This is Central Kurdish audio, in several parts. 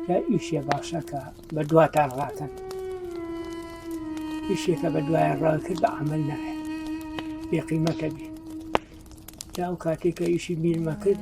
کە ئیشێ باشەکە بە دواتان ڕاکەن ئیشێکە بە دوایان ڕاکرد بە عمل نایە بێقیمەتە بێ جاو کاتێکە ئیشی بیرمە کرد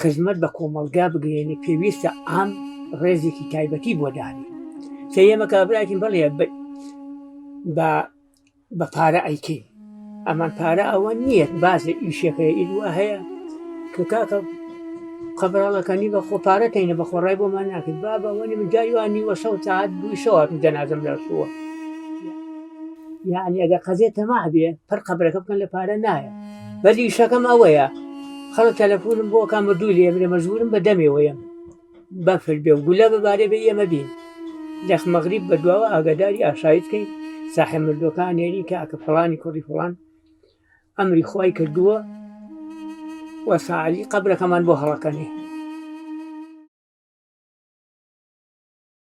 خزمەت بە کۆمەڵگا بگەێنێ پێویستە ئام ڕێزێکی تایبەتی بۆ دانێ کە ئێمە کابراکین بڵێ بە بە پارە ئەیکەین ئەمان پارە ئەوە نییە بازە ئیشەکەی ئیدوا هەیە کە کاکە قەبراڵەکانی بە خۆپارەکەینە بە خۆڕای بۆمان ناکرد با بەوەنی من جایوانی وە سەوت ساعت دوی شەوات جەنازم لەرسووە یعنی ئەگە قەزێ تەما بێ پڕ قەبرەکە بکەن لە پارە نایە بەس ئیشەکەم ئەوەیە خەڵک تەلەفۆنم بۆ ئەکا مردووی لێ برێ مەجبورم بە دەمێەوە یەم بەفر بێ و گولە بەبارێ بێ ئێمە بین لەخ مەغریب بە دواوە ئاگاداری ئاشایی بکەین ساحە مردوەکان نێری کاکە فڵانی کوڕی فڵان ئەمری خی کردووە وە ساعلی قبلەکەمان بۆ هەڵەکەنێ